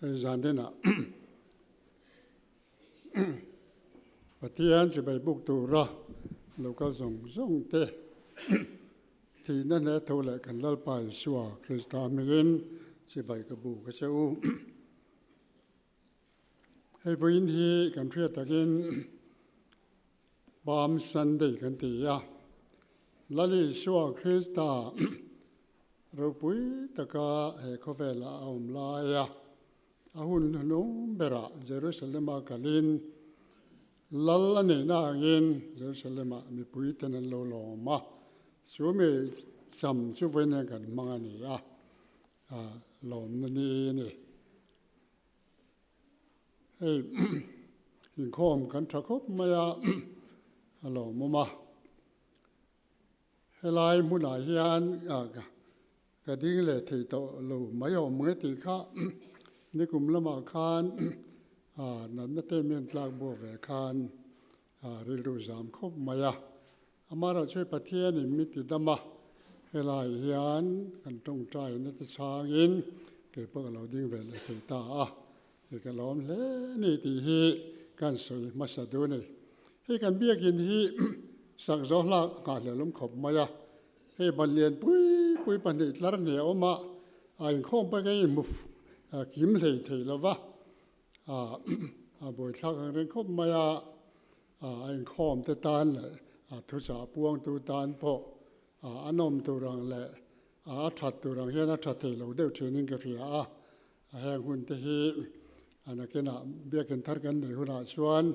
zan dena Pathian chi bai buk tura local zawng zawng te thihna hle thu leh kan Lalpa Isua Krista mingin chi bai ka buk a che u. Hei vawiin hi kan hriat takin Palm Sunday kan ti a, Lal Isua Krista ropui taka he khawvelah a awm laia a hun hnung berah Jerusalema kalin Lal a neihna angin Jerusalema mipuiten an lo lawm a, chu mi cham chu vawiin hian kan hmang a ni a. A lawmna ni i ni. Hei inkhawm kan tha khawp mai a, a lawmawm a. Helai hmunah hian ka ding leh thei tawh lo mai awm nge tih kha nikum lamah khan natna te a men tlak buak ve khan A rilru zam khawp mai a. Amah erawh chu i Pathian in mi ti dam a, helaiah hian kan tawngtai na te chhangin kei pawh ka lo ding ve leh thei ta a, kei ka lo awm hle ni tih hi kan sawi hmasa dun e. Hei kan biakin hi sak zohlak a nghah hlelawm khawp mai a, hei ban lian pui pui pahnih tlar hnih a awmah a inkhawm paih ka inhmu kim hlei thei lova. a buaithlak ang reng khawp mai a, a inkhawm te tan leh a thuchah a puang tu tan pawh a nawm tur ang leh a that tur ang hian a tha thei lo deuh thinin ka hria a, heng hun te hi a nakinah biakin thar kan nei hunah chuan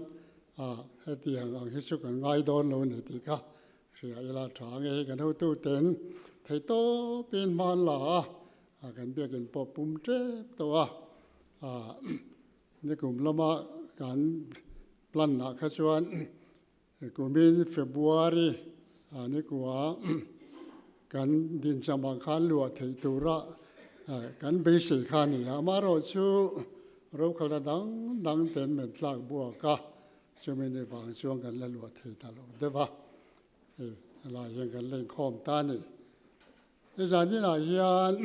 hetiang ang hi chu kan ngai dawn lo ni tih ka hria ila tha, ange hi kan hotu ten thei tawpin hman la a, A kan biakin pawh pum tep tawh a, a ni kum lama kan plan lah kha chuan kumin February a ni kua kan din chama khan luah theih tura kan beisei kha a ni a, amaherawh chu rokhawlna dang dang ten men tlak buak a, chumi ni vang chuan kan la luah thei ta lo deuh va, hei helai hian kan la inkhawm ta a ni. He zan inah hian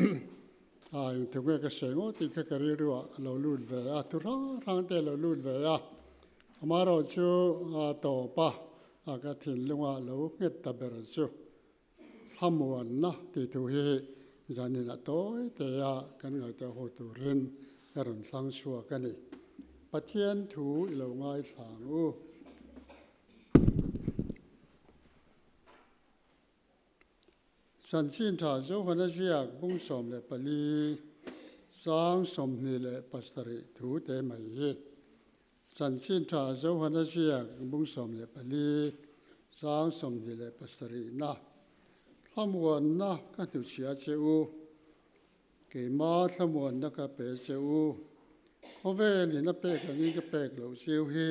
a in thuk nge ka sawi ngawt tih kha ka rilru ah a lo lut ve a, thu hrang hrang te a lo lut ve a, ama erawh chu a tawpa a ka thinlung ah a lo nghet ta ber chu thlamuan na tih thu hi hi zan inah tawi te a kan ngaihtuah ho turin ka rawn thlang chhuak a ni. Pathian thu i lo ngaithlang u. Chanchin tha Johana ziak bung sawm leh pali chang sawmhnih leh pasarih thu te mai hi Chanchin tha Johana ziak bung sawm leh pali chang sawmhnih leh pasarihna hlamuanna ka hnuchhia che u, keima hlamuanna ka pe che u, khawvelin a pek angin ka pek loh chiu hi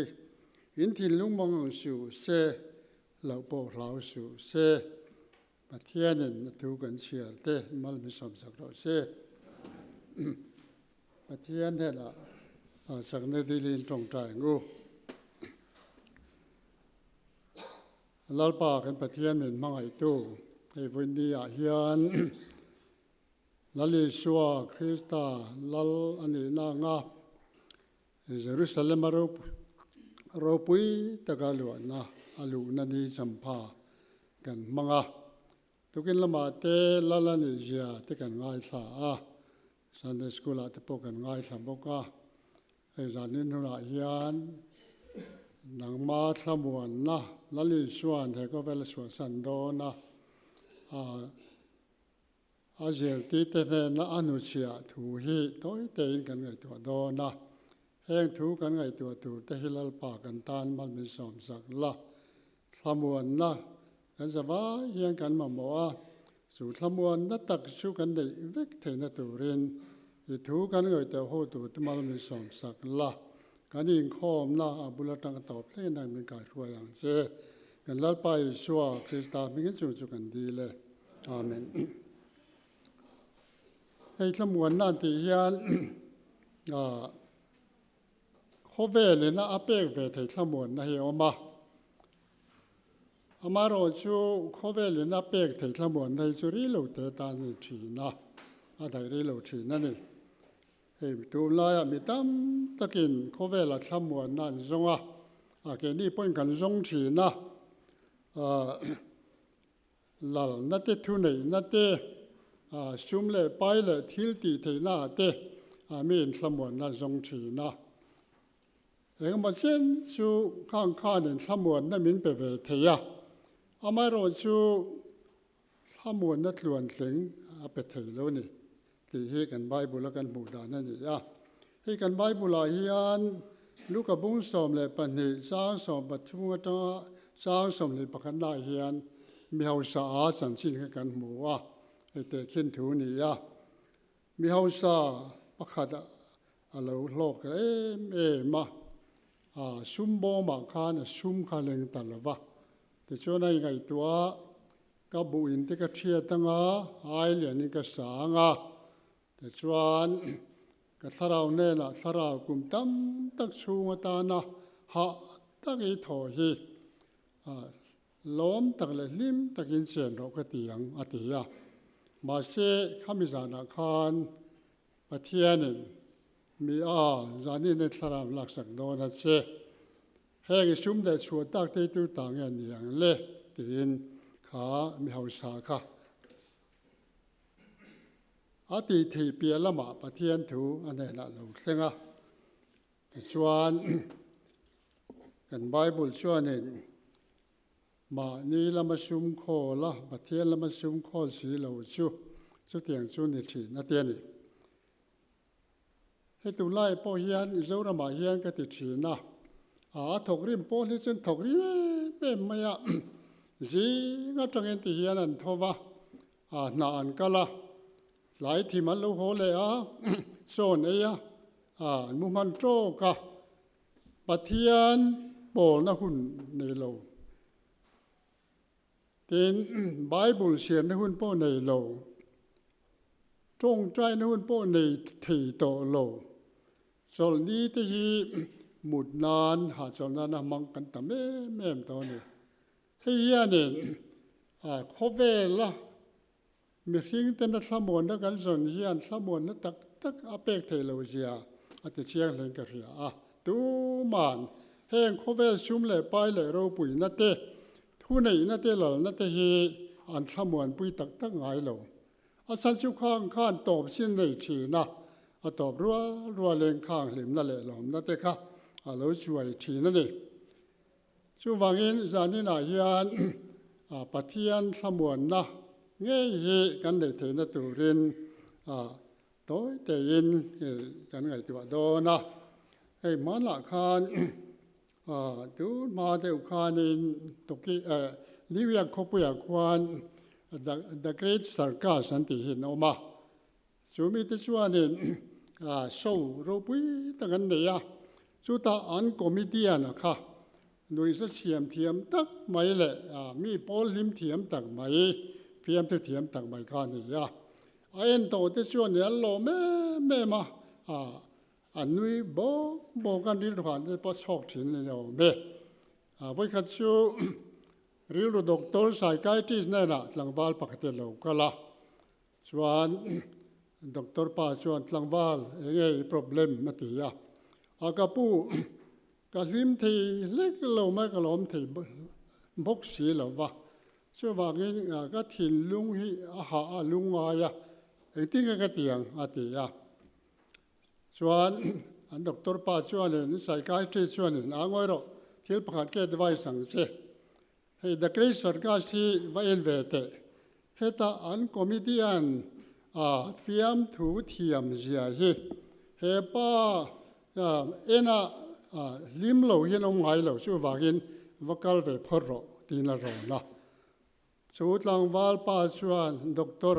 in thinlung mang ang siu se Loh pawh hlau suh se, Pathianin a thu kan chhiar te malhmi sawm sak rawh se. Pathian hela hlahchakna dilin tawngta eng u. Lalpa kan Pathian min hmangaihtu hei vawi ni ah hian Lal Isua Krista Lal a nihna anga Jerusalema ropui taka luahna a luhna ni champha kan hmang a, tukin lamah te lal a nih zia te kan ngaithla a, Sunday School-ah te pawh kan ngaithla bawk a. Hei zanin hunah hian nangma thlamuanna Lal Isuan he khawvel suahsan dawn a, a. A zirtite hnena a nu chhiah thu hi tawitein kan ngaihtuah dawn a, heng thu kan ngaihtuah tur te hi Lalpa kan tan mal min sawm zak la. Thlamuanna kan za vai hian kan mamawh a, chu thlamuanna tak chu kan neih vek theihna turin i thu kan ngawi teuh ho tur te mal min sawm sak la. Kan inkhawmna a bul atang tawp thlengin a min kaihhruai ang che. Kan Lalpa Isua Krista hmingin chung chu kan dil e. Amen. Hei thlamuanna an tih hian khawvelin a pek ve thei thlamuanna hi a awm a. Amaherawhchu chu khawvelin a pek thei thlamuanna hi chu rilo te tan a ni thin a, a daih rilo thin a ni. Hei tunlaiah mi tam takin khawvela thlamuanna an zawng a, a keini pawhin kan zawng thin a, lalna te, thuneihna te, sum leh pai leh thil tih theihna ah te mi inthlamuanna an zawng thin a. Engemaw chen chu khang khan in thlamuanna min pe ve thei a, amaherawhchu Thlamuanna tluan tling a pe thei lo ni tih hi kan Bible-a kan hmuh dan a ni a. Hei kan Bible-ah hian Luka bung sawm leh pahnih chang sawm pathum atanga chang sawm leh pakhatnaah hian mi hausaa chanchin kha kan hmu a, hei tehkhin thu ni a, mi hausa pakhat a lo hlawk em em a, a sum bawmah khan a sum kha a leng ta lova, Tichuan a ingaihtuah a, Ka buin te ka thiat dang a, hai lianin ka sang a. Tichuan ka thlarau hnenah thlarau kum tam tak chhung atana hah tak i thaw hi lawm tak leh hlim takin chian rawh ka ti ang, a ti a. Mahse, khami zanah khan Pathianin, Mi a, zan in a thlarau laksak dawn a che. Heng i sum leh chhuah tak teitu ta nge ni ang le? tiin kha mi hausa kha a tih theih piah lamah Pathian thu a hnenah a lo thleng a. Tichuan, kan Bible chuanin. Mahni lama sium khawl a, Pathian lama sium khawl si lo chu, chutiang chu ni thin a ti a ni. Hei tunlai pawh hian Mizoramah hian ka ti thin a, a a thawk rim pawh hi chuan thawk rim em em mai a, zing atangin ti hian an tho va, a hna an kal a, tlai thim an lo haw leh a, sawn ei a, a an muhman tawk a. Pathian pawlna hun nei lo. Tin, Bible siamna hun pawh nei lo. Tawngtaina hun pawh nei thei tawh lo. Chawlh ni te hi mut nan, hahchawlh nan a hmang kan tam em em tawh a ni. Hei hianin khawvela. Mihring ten a thlamuanna kan zawn hian thlamuanna tak tak a pek thei lo zia a ti chiang hleng ka hria a. Tuma'n heng khawvel sum leh pai leh ropuina te, thuneihna te lalna te hi an thlamuanpui tak tak ngai lo. A Chanchukhang khan tawpzin nei thina, a tawp rual rual in khang hlimna leh lawmna te kha a lo chuai thin a ni. Chuvangin zaninah hian Pathian thlamuanna ngei hi kan neih theihna turin tawi teiin kan ngaihtuah dawn a. Hei hmanah khan tun hma deuh khanin Toki New York khawpuiah khuan The Great Circus an tih hi an awm a, Chu mite chuanin show ropui tak an nei a, chutah an comedian a kha nuihza siam thiam tak mai leh mi pawl hlim thiam tak mai, fiamthu thiam tak mai kha a ni a, a en tawh te chuanin an lawm em em a, an nui bawk bawk a, rilru han te pawh chhawk thin a ni awm e. Vawi khat chu rilru doctor, psychiatrist, nenah tlangval pakhatin a lo kal a, Chuan doctor pa chuan, Tlangval, eng nge i problem? a ti a. A ka pu, ka hlim thei hlek lo mai, ka lawm thei bawk si lo va, chuvangin ka thinlung hi a hah a lu ngai a, engtin nge ka ti ang? a ti a. Chuan an doctor pa chuanin, psychiatrist chuanin, Aa ngawi rawh, thil pakhat ka advice ang che, Hei Daklei Sarkaz hi va en ve teh. Heta an comedian a fiamthu thiam zia hi hepa ena hlim lo hian awm ngai lo chu vangin va kal ve phawt rawh tiin a rawn la. Chu tlangval pa chuan Doctor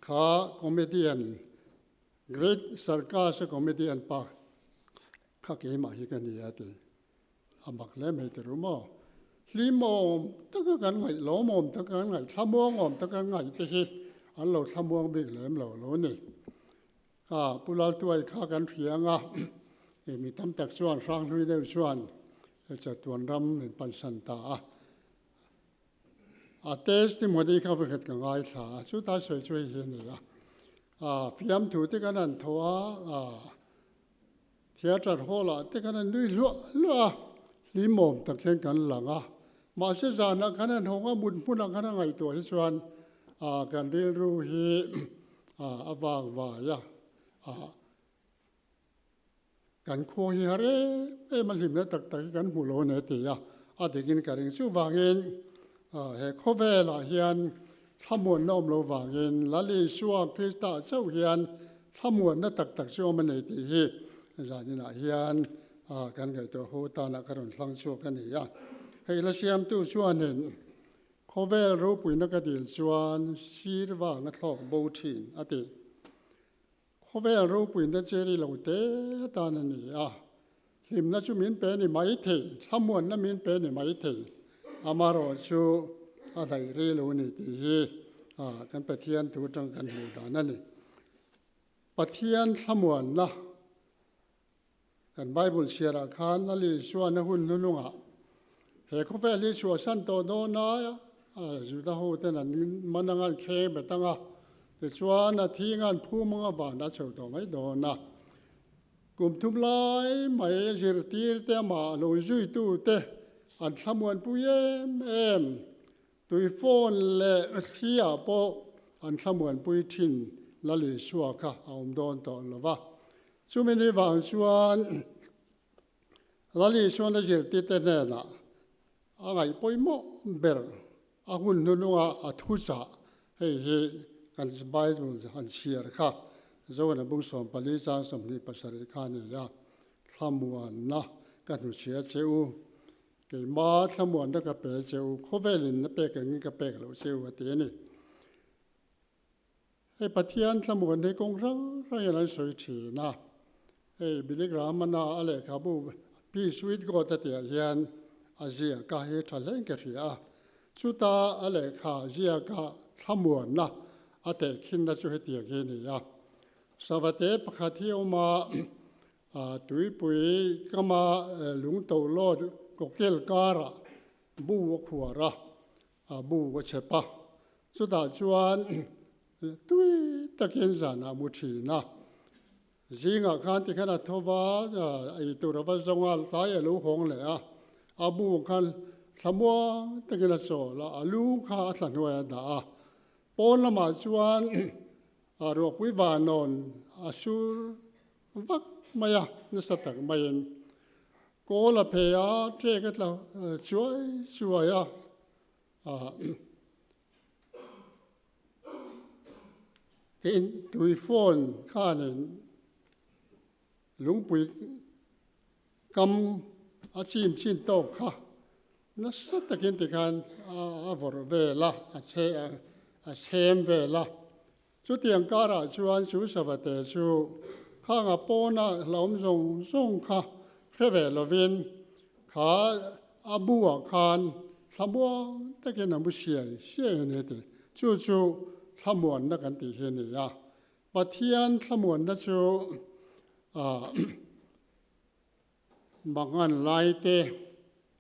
kha comedian Great Sarkaz-a comedian pa kha keimah hi ka ni a ti. A mak hle mai teh ru maw? Hlim awm taka kan ngaih, lawm awm taka kan ngaih, thlamuang awm taka kan ngaih te hi an lo thlamuang bik lem lo lo ni. A, Pu Laltuai kha kan hria ang a, e, mi tam tak chuan hrang hlui deuh chuan e, chatuan ram min pansan ta a. A test ni mawni kha va khat ka ngaithla a, chuta sawi chu hei hi a ni a, a, fiamthu te kan han thaw a, a, Theatre hall ah te khan an nui hluah hluah a, hlimawm tak hian kan lang a, mahse zan ah khan an hawng a, mut hmun ah khan a ngaihtuah hi chuan ah kan rilru hi ah a vang vai a, ah kan khuang hi har em em a hlimna tak tak hi kan hmu lo a ni a ti a, a ding in ka ring chuh vang in ah he khawvel ah hian Thlamuanna awm lo vangin Lali Isua Krista chauh hian thlamuanna tak tak chu awm a nei tih hi zaninah hian kan ngaihtuah ho tana ka rawn hlang chhuak a ni a. Hei la siamtu chuanin khawvel ropuina ka dil chuan sir vanga thlawk bo thin a ti. Khawvel ropuina cheri lo te tan a ni a, hlimna chu min pe ni mai thei, thlamuanna min pe ni mai thei, amarawh chu a hlaihri lo ni tih hi kan Pathian thu atang kan hmuh dan a ni. Pathian thlamuanna Kan Bible chhiarah khan a linsuahna hun hnunungah he khawvel hi chhuahsan tawh dawn a, Juda hoten an man a ngan kheng bet ang a, tichuan a thi ngan phum anga van a chho tawh mai dawn a. Kum thum lai mai zirtirte amah a lawmzuitute an thlamuanpui em em. Tuifawn leh Hria pawh an thlamuanpui thin Lali sua kha a awm dawn tawh lo va. Chumi ni vang chuan Lali suana zirtite hnenah a ngaih pawimawh ber a hun hnununga a thu chah hei hi kan Bible han chhiar kha Johana bung sawm pali chang sawmhnih pasarih kha a ni a, thlamuanna ka hnuchhia che u Keimah a thlamuanna ka pe che u, khawvelin na pek angin ka pek loh che u a ti a ni. Hei Pathian thlamuan hi kawng hrang hrangin an sawi thin a. Hei Billy Graham-ana a lehkhabu Peace With God a tihah hian a ziaka hi thahleng ka hria a. Chuta a lehkha ziaka thlamuanna a teh khinna chu hetiang hi a ni a, Sava te pakhat hi a awm a, A tuipui kama Lungto lawt Kawkel karah bu a khuar a, a bu a chep a, chutah chuan tui takin zanah a mu thin a. Zingah khan tikhan a tho va, eitur a va zawng a, tlai a lo hawng leh a, a bu khan thlamuang takin a chawl a, a lu kha a thlahnuai a dah a. Pawn lamah chuan Ruahpui Vanawn a sur vak mai a, nasa tak maiin kawl a phei a, ṭek a tla chuai chuai a, ka intui phone khanin lungpui kam a chim chin tawk kha nasa takin tikhan a vawrh vel a, a chhe a, a sem vel a. Chutiang karah chuan chu savate chu khanga pawna hlauhawm zawng zawng kha hre ve lovin kha a buah khan thla muang takin a mu siai siai a ni tih. Chu chu thlamuanna kan tih hi a ni a. Pathian thlamuanna chu a. Mangan lai te,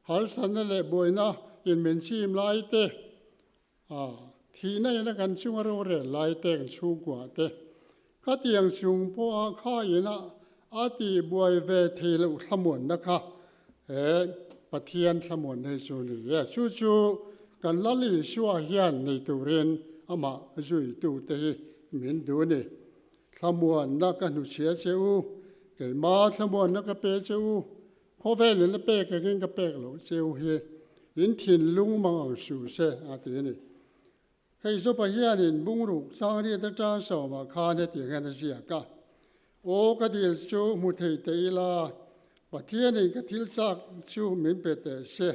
halsanna leh buaina inmin chim lai te, thihna ina kan chunga rorel lai te, kan chhungkuah te, khatiang chung pawha khaina a tihbuai ve thei loh thlamuanna kha he Pathian thlamuanna hi chu ni e. Chu chu kan Lal Isua hian nei turin amah zuitute hi min duh a ni. Thlamuanna ka hnuchhia che u, keima thlamuanna ka pe che u, khawvel in a pek angin ka pek lo che u hi in thinlung mang ang hru se a ti a ni. Hei zawpa hian in bungruk changriat atang sawmah khan hetiang hian a ziak a, Aw ka dil chu hmu thei teh ila, Pathian in ka thil chak chu min pe teh se,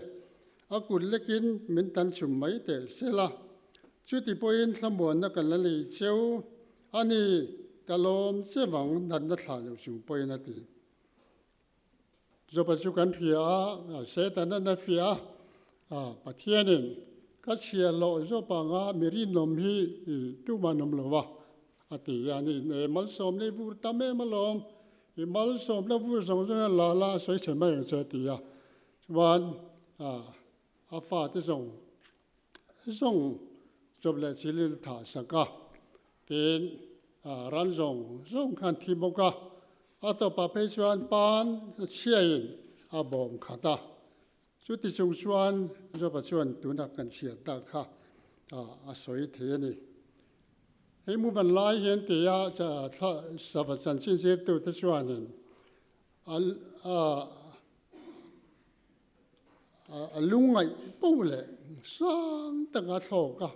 a kut lekin min tan chhum mai teh se la, chuti pawhin thlamuanna kan la nei che u, A ni, ka lawm che vang natna thlai lo chung pawhin a ti. Joba chu kan hria a, Setana na hria a, a, Pathianin ka chhia hlawh Job anga miri nawm hi i tumah nawm lo va, a ti hian i e malsawmna i vur tam em alawm, i malsawmna vur zawng zawng hian lala a sawi chhe mai ang che a ti a. Chuan, a. A fate zawng zawng chawp leh chilin thah sak a, tin ran zawng zawng kha an thi bawk a, a tawpah phei chuan pan chhiaiin a bawm khat a, chuti chung chuan Joba chuan tuna kan chhiat tak kha a sawi thei a ni. Hei muban lai hi an ti a, sava chanchin zirtute chuanin a. A lungngaih po leh sang taka a thlawk a,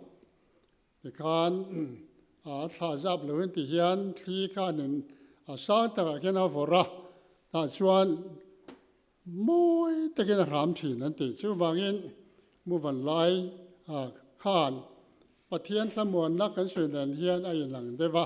tikhan a thla zap lo in ti hian thli khanin a sang takah khian a vawrh a, tah chuan mawi takin a hram thin an ti. Chuvangin Muvan lai khan Pathian thlamuanna kan sawi nen hian a inlang deuh a.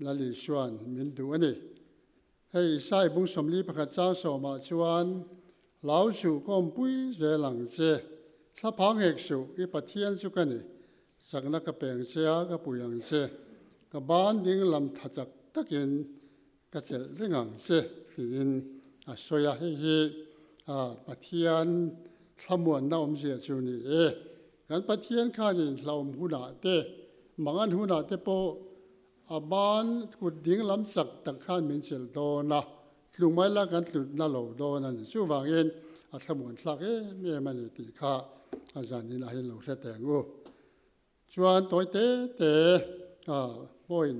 Lali chuan, Min duh a ni. Hei Isai bung sawmli pakhat chang sawmah chuan, Lau suh kawmpui zel ang che, thla phang hek suh, i Pathian chu ka ni, chakna ka peng che a, ka pui ang che, ka ban ding lam tha chak takin ka chelh reng ang che, tiin a sawi a. Hei hi Pathian thlamuanna awmzia chu ni e, Kan Pathian khanin hlauhawm hunah te, mangan hunah te pawh a ban kut ding lam chak tak khan min chelh dawn a, tlungmai la kan tlu na lo dawn a ni. Chuvangin a thlamuanthlak em em a ni tih kha a zanin a hi lo hre teng u. Chuan tawi te te a hmawiin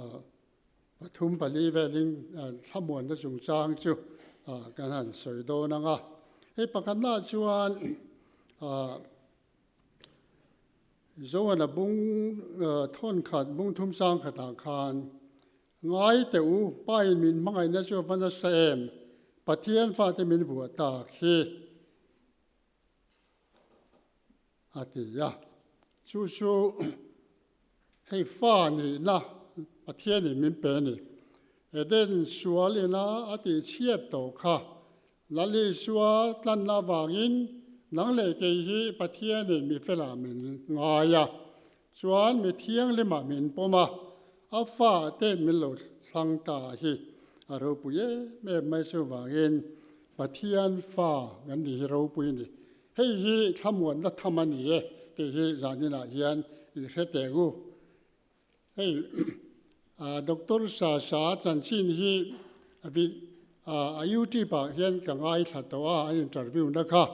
a. Pathum pali velin thlamuanna chungchang chu kan han sawi dawn ang a, hei pakhatnaah chuan Joana bung thawnkhat bung thum chang khatah khan, Ngai teh u, pain min hmangaihna chu a va nasa em? Pathian fate min vuah tak hi. a ti a. Chu chu hei fa nihna Pathian in min pe ni. Eden sual ina a tih chhiat tawh kha Lali sua tlanna avangin nang leh kei hi Pathian in mi felah min ngai a, Chuan mi thianglima min pawm a, a fa te min lo hlang ta hi a ropui em em mai chu vangin Pathian fa kan nih hi ropui ni, hei hi thlamuatna tham a ni e tih hi zaninah hian i hre teng u. Hei Doctor Sasa chanchin hi a YouTube-ah hian ka ngaithla tawh a, a interview na kha.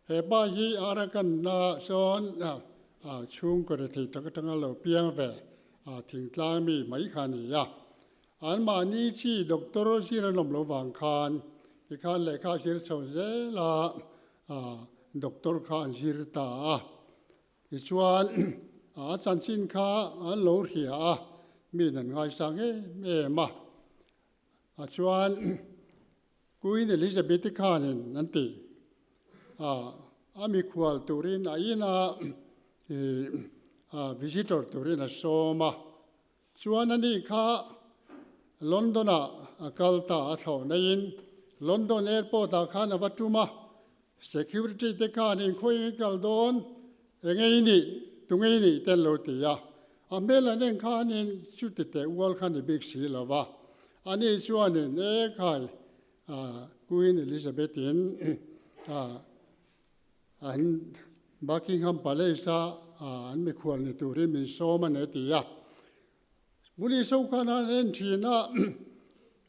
He pa hi a arakanna ah sawn chhung kawre thei tak atang a lo piang ve, a thingtlang mi mai kha a ni a. Anmahni chi doctor zir an awm lo vang khan tikhan lehkha a zir chho zel a, doctor kha an zir ta a. Tichuan a chanchin kha an lo hria a, mi in an ngaisang em em a. a chuan Queen Elizabeth-i khanin an ti a, a mikhual turin a ina ih visitor turin a sawm a, chuan anih kha London-ah a kal ta a thlawh naihin London airport-ah khan a va tum a, Security te khan inkhawi engin kal dawn, engei i nih, tungei i nih te an lo ti a. A hmel an en khanin chuti teh ual khan i bik si lo va, ani chuanin e khai Queen Elizabeth in an Buckingham Palace a an mikhual ni turin min sawm a ni a ti a. Muli sawi khan an en thin a,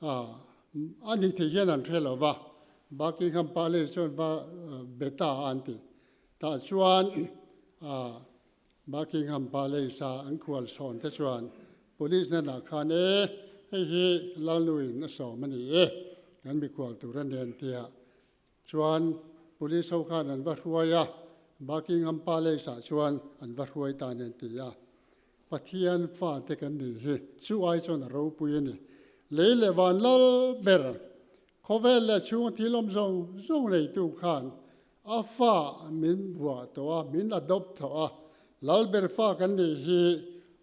a ni thei hian an hre lova, Buckingham Palace chuan va be ta a an ti. Tah chuan Buckingham Palace a an khual sawn te chuan Police na lah khan e hei hi Lalnuin a sawm a ni e, kan mikhual tur a nen tia Chuan Police ho khan an va hruai a, Buckingham Palace ah chuan an va hruai ta nen ti a. Pathian fa te kan nih hi, chu ai chuan a ropui a ni. Lei leh van lal ber, khawvel leh chhung thilawm zawng zawng neitu khan a fa min buah tawh a, min adopt tawh a. Lal ber fa kan nih hi,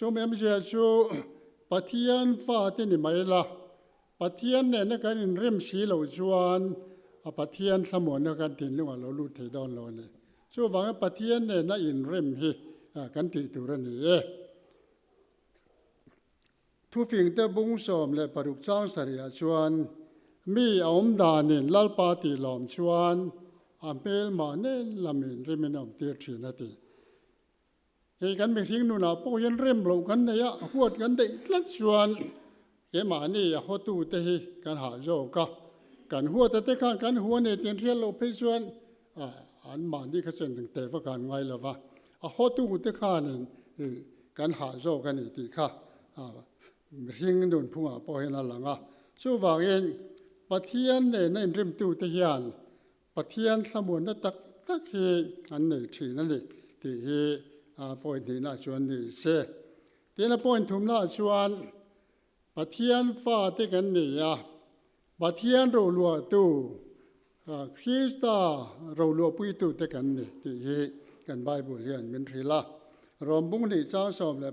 Chumi amzia chu Pathian fate ni mai la, Pathian nena kan inrem si lo chuan a Pathian thlamuanna kan thinlungah lo lut thei dawn lo a ni. Chuvangin Pathian nena inrem hi kan tih tur a ni e. Thufingte Bungsawm leh Paruk Changsariah chuan mi a awm danin Lalpa tih lawm chuan a hmel mahni lamin rim in a awm tir thin a ti. Hei kan mihring nunah pawh hian rem lo kan nei a, huat kan daih tlat chuan kemahni a hawtu te hi kan hah zawk a, kan huata te khan kan hu a ni tiin hriat loh phei chuan an mahni kha chen ang teh vak a an ngai lova, a hawtu te khanin kan hah zawk a ni tih kha mihring nun phungah pawh hian a lang a. Chuvangin Pathian nena inrimtute hian Pathian hlamuanna tak tak hi an nei thin a ni tih hi a point hnih naah chuan ni se. Tin a point thum naah chuan Pathian fa te kan ni a, Pathian roluahtu, Krista roluahpuitu te kan ni tih hi kan Bible hi an min hrilh a. Rawmbung hnih chang sawm leh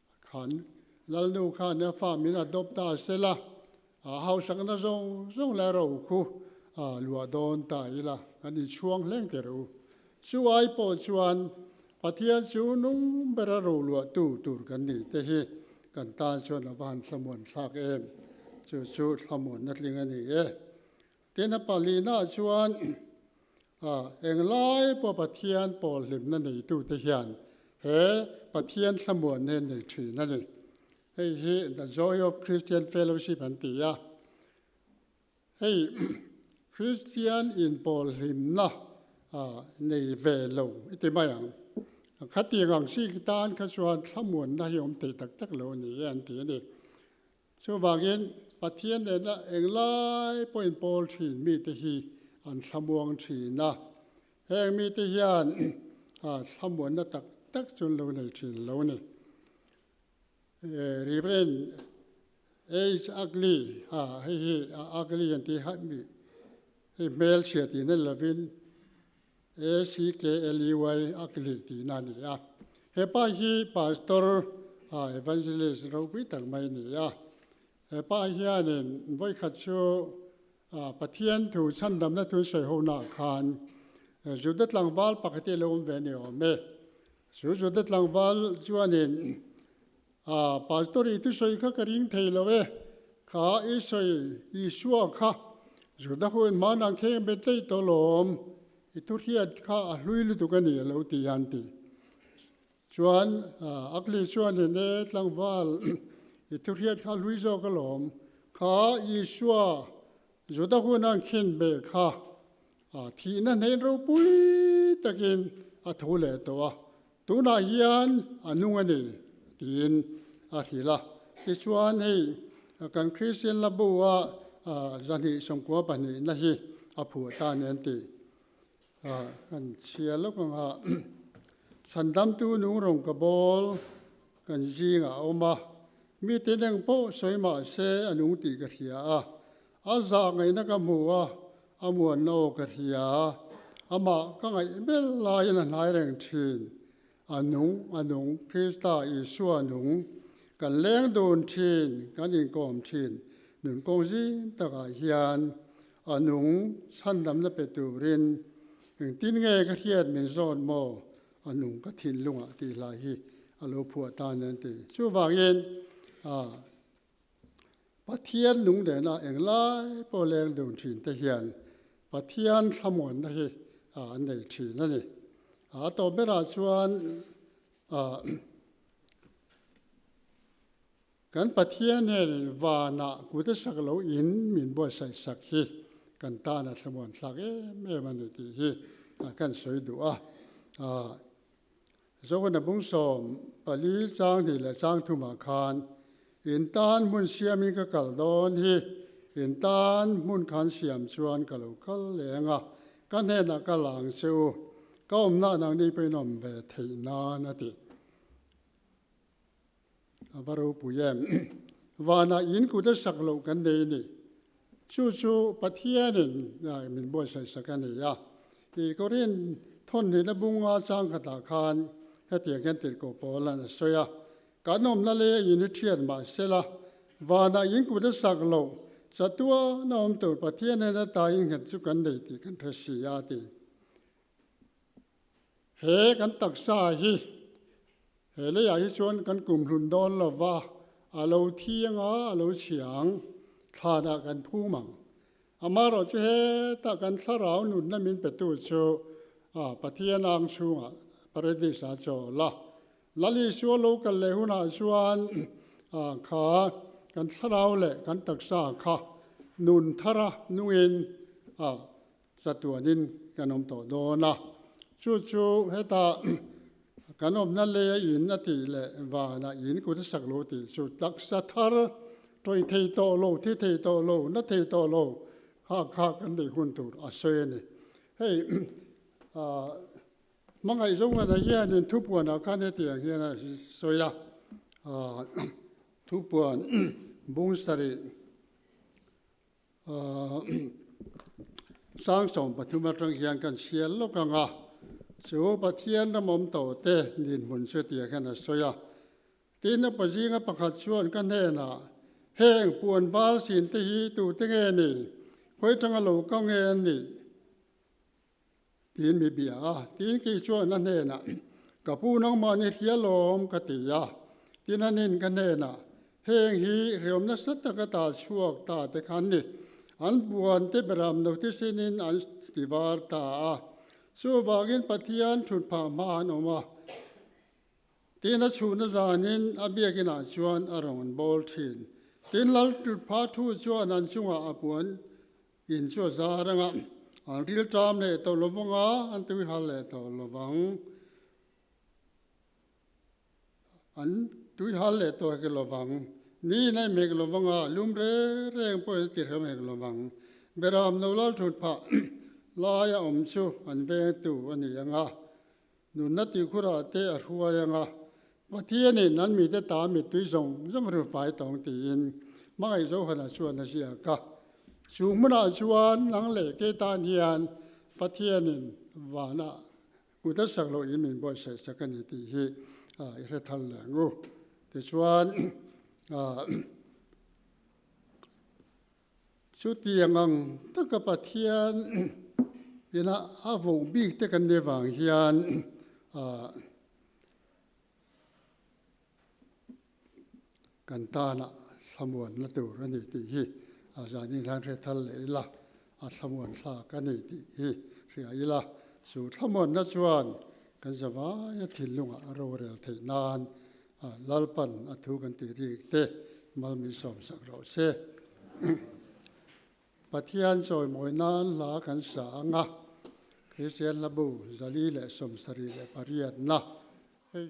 Khan Lalnu khan farm in adopt ta se la, a hausak na zawng zawng leh rokhu a luah dawn ta ila kan in chhuang hleng ker u. Chu ai pawh chuan Pathian chu nung ber a ro luah tu tur kan nih te hi kan tan chuan a va han hlamuan thlak em? Chu chu hlamuan na tling a ni e. Tin, a palina chuan, A englai pawh Pathian pawlhlimna neitute hian he Pathian hlamuan he an nei thin a ni. Hei hi The Joy of Christian Fellowship an ti a, hei Kristian inpawlhlimna nei ve lo i ti mai ang. Khatiang ang sik tan kha chuan hlamuanna hi awm thei tak tak lo a ni e an ti a ni. Chuvangin, Pathian nena englai pawhin pawl thin mite hi an thlamuang thin a, heng mite hian thlamuanna tak tak chu an lo nei thin lo ni. Rev. H. Ugly, hei hi Ugly an tih hi hmel chhia tihna lovin, ACKLUI Akli tihna a ni a, hepa hi Pastor Evangelist ropui tak mai a ni a, hepa hianin vawikhat chu Pathian thu chhandamna thu sawi ho naah khan Juda tlangval pakhat hi a lo awm ve a ni awm e, chu Juda tlangval chuanin A, Pastor i thusawi kha ka ring thei lo e, kha Isai Isua kha Juda ho in hmana an kheng ve tlaih tawh lawm, i thuhriat kha a hlui lutuk a ni, a lo ti a, an ti. Chuan a kli chuan hin e, tlangval, i thuhriat kha a hlui zawk a lawm, kha Isua Juda hona an khen ve kha thihna hnein ropui takin a thu leh tawh a, Tunah hian a nung a ni, tiin a hrilh a. Tichuan hei kan Kristian labua zahnih sawmkua pahnihna hi a phuah ta nen tih a kan chhia lawk ang a. Chhandamtu nung rungka bawl kan zingah a awm a, mi tineng pawh sawi mahse a nung tih ka hria a. A zahngaihna ka hmu a, a muanna aw ka hria a, amah ka ngaih ber laiin a hnai reng thin. A nung, a nung, Krista Isua nung, kan leng dun thin, kan inkawm thin, nun kawng zing takah hian a nung chhandamna pe turin engtin nge ka hriat min zawn maw, a nung ka thinlungah tihhlai hi a lo phuah tan an ti. Chuvangin Pathian lunglena eng lai pawh leng dun thinte hian Pathian thlamuanna hi an nei thin a ni. A tawp berah chuan kan Pathian nen vanah kute sak lo in min buatsaih sak hi kan tan a thlamuan thlak em em a ni tih hi kan sawi duh a. Jona bung sawm pali chang hnih leh chang thum ah khan in tan hmun siam in ka kal dawn hi in tan hmun khan siam chuan ka lo kal leng a, ka hnen ah ka la ang che u, ka awmna ah nang ni pawhin awm ve theih nan a ti. A va ropui em? Vanah in kut a sak loh kan nei ni. Chu chu Pathianin min buaisai sak a ni a. I Korin thawnnihna a bung a chang khat ah khan hetiang hian tirhkoh pawl an a sawi a, Kan awmna lei a in hi thian mah se la, vanah in kut a sak loh, chatuana awm tur Pathian in a taa in nghet chu kan nei tih kan hre si a ti. He kan taksa hi, he leiah hi chuan kan kum hlun dawn lo va, a lo thiang a, a lo chiang, thlanah kan phum ang. Amaherawh chu hetah kan thlarau nunna min petu chu Pathian a ang chhungah Paradise-a chaw la. Lal Isu a lo kal leh hunah chuan kha kan thlarau leh kan taksa kha nun thara nungin Chatuanin kan awm tawh dawn a, chu chu heta kan awmna leia in a tih leh vana in kut a sak lo tih chu taksa thar tawi thei tawh lo, thi thei tawh lo, na thei tawh lo kha kha kan bei hun tur a sawi a ni. Hei hmangaih zawnganah hianin thupuanah khan hetiang hian a sawi a, thupuan bung sarih Sang sawm pathum atang hian kan sial lawk ang a, chu Pathian ram awm tawh te nih hmun chu tih ah khian a sawi a. Tin, a paw zinga pakhat chuan ka hnenah, Heng, puanval sin te hi tute nge ni? Khawi tanga lo ka nge an nih? tiin mi biang a, tin kei chuan a hnenah, Ka pu nangmah ni hrialawm, ka ti a, tin a nin ka hnenah, Heng hi hriawm nasa tak a ta chhuak ta te khan ni, an buan te ber am lo te sinin an ti var ta a, chuvangin Pathian thut phah hma an awm a, tin a chhuhna zanin a biakin ah chuan a rawn bawl thin, tin laltlutpha thu chuan an chungah a puan In chu a za a reng a, an ril ṭam leh tawh lo vang a, an tui hal leh tawh lo vang. An tui hal leh tawh ke lo vang, ni in aih hmek lo vang a, lum reng reng pawh in ti hreu hmek lo vang. Beraham no lalṭhut phah lai a awm chu an vengtu a ni ang a, Nunna tihkhurah te a hruai ang a, Pathianin an mite ta mittui zawng zawng hru fai tawng tiin hmangaih Johana chuan a ziak a. Chu hmunah chuan nang leh kei tan hian Pathianin vanah kut a sak loh in min buaiseh sak a ni tih hi i hre thar leh ang u. Tichuan Chutiang ang taka Pathian ina a vawng bik te kan nei vang hian ah kan tanah thlamuan la tur a ni tih hi a zanin hian hre thar leh ila a thlamuan thlak a ni tih hi hria ila chu thlamuanna chuan kan zavai a thinlungah a rorel theih nan A Lalpan a thu kan tih ri te malmi sawm sak rawh se. Pathian chawimawina an hla kan sa anga Kristian hlabu zali leh sawmsarih leh pariatna hei.